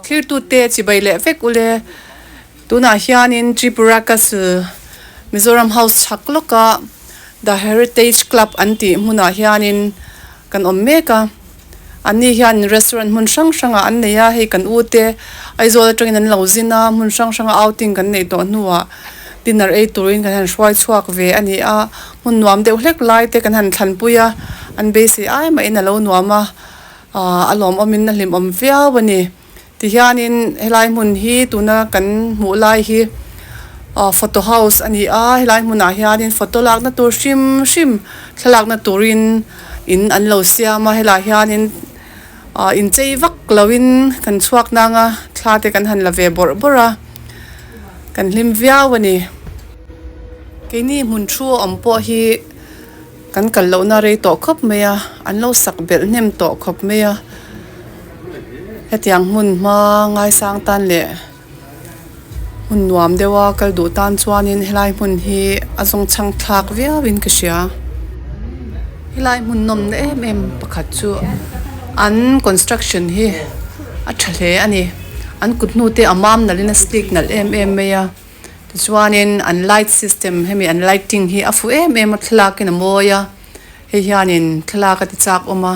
Thirtute chibai leh vek ule. Tunah hianin Tripura Castle, Mizoram House chhak lawka The Heritage Club an tih hmunah hianin kan awm mek a. An ni hian restaurant hmun hrang hrangah an nei a, hei kan u te Aizawl atangin an lo zin a, hmun hrang hranga outing kan neih tawh hnuah dinner ei turin kan han hruai chhuak ve a ni a. Hmun nuam deuh hlek lai te kan han thlanpui a, an beisei ai mahin a lo nuam a. Ahh a lawm awmin a hlim awm viau a ni. Tihianin helai hmun hi tuna kan hmuh lai hi ahh photo house a ni a, helai hmunah hianin photo lakna tur hrim hrim thla lakna turin in an lo siam a, helah hianin ahh inchei vak loin kan chhuak nanga thla te kan han la ve bawrh bawrh a, kan hlim viau a ni. Keini hmun thu awm pawh hi. Kan kal lohna rei tawh khawp mai a, an lo sak belh hnem tawh khawp mai a, hetiang hmun hma ngaisang tan leh hmun nuam deuha kal duh tan chuanin helai hmun hi a zawng chhang thlak viauin ka hria, helai hmun nawmna em em pakhat chu an construction hi a tha hle a ni, an kut hnute a mam nalhin a slick nalh em em mai a. Tichuanin an light system hemi an lighting hi a fuh em em a, thlalâkin a mawi a, hei hianin thlalâk a ti châk awm a,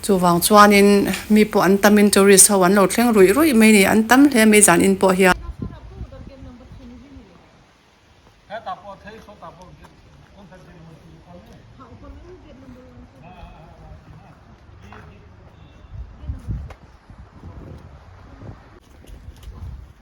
chuvang chuanin mi pawh an tamin tourist ho an lo thleng ruih ruih mai a ni, an tam hle mai zan in pawh hian.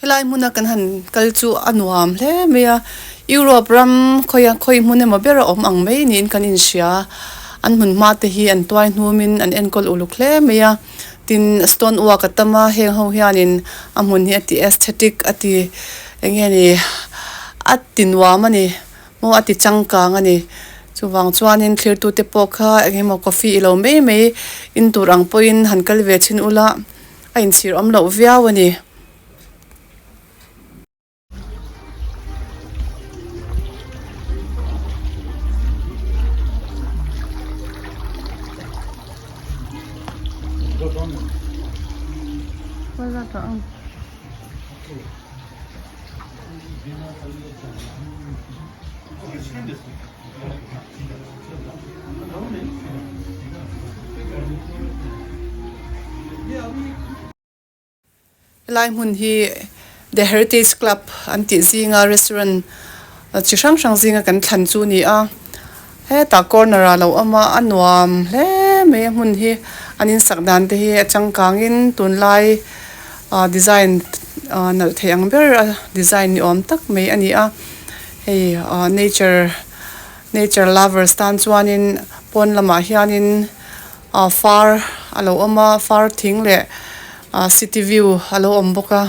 Helai hmuna kan han kal chu a nuam hle mai a, Europe ram khawia khawi hmun emaw ber a awm ang mai niin kan inhria. An hmun hma te hi an tuai hnumin an enkawl uluk hle mai a. Tin stone work a tam a, heng ho hianin a hmun hi a ti aesthetic a ti eng nge ni a tinuam a ni maw a ti changkang a ni. Chuvang chuanin thirtute pawh kha engemaw coffee ilo mai mai in tur ang pawhin han kal ve chhin ula. A inchhir awm loh viau a ni. Helai hmun hi The Heritage Club an tih zinga restaurant chi hrang hrang zinga kan thlan chu a ni a, hetah corner ah a lo awm a, a nuam hle mai a hmun hi, an in sak dan te hi a changkang in tunlai ah design ah nalh theih ang ber a design ni awm tak mai a ni a, hei ah nature -- Nature lovers tan chuanin pawn lamah hianin aah far a lo awm a, far thing leh aah city view a lo awm bawk a.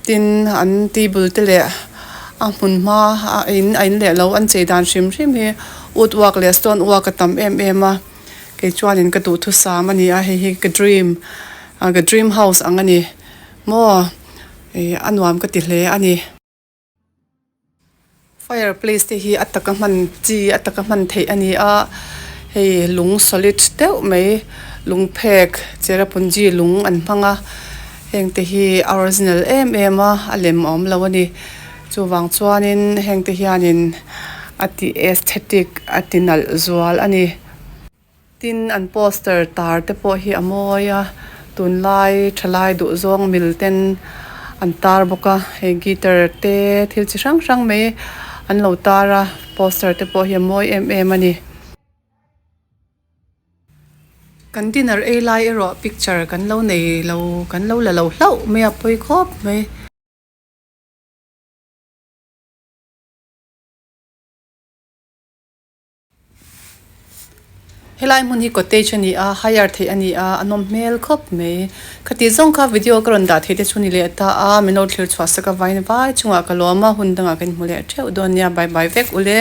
Tin an table te leh a hmun hma a in a in leh loh an chei dan hrim hrim hi wood work leh stone work a tam em em a. Kei chuanin ka duhthusam a ni a, hei hi ka dream aah ka dream house ang a ni maw? Ih a nuam ka ti hle a ni. Fire place te hi a taka hman chi a taka hman theih a ni a hei lung solid deuh mai lung phek Cherrapunji lung an hmang a heng te hi a original em em a a lem awm lo a ni chuvang chuanin heng te hianin a ti aesthetic a ti nalh zual a ni. Tin, an poster tar te pawh hi a mawi a, tunlai thalai duh zawng mil ten an tar bawk a, hei guitar te thil chi hrang hrang mai an lo tar a, poster te pawh hi a mawi em em a ni. Kan dinner ei lai erawh picture kan lo nei lo, kan lo la lo hlauh mai a, pawi khawp mai. Helai hmun hi cottage a ni a hire theih a ni a a nawm hmel khawp mai khati zawng kha video ka rawn dah theih te chu ni leh ta a min lo thlir chhuah sak a vain vai chungah ka lawm a hun dangah ka inhmu leh theuh dawn nia bye bye vek ule.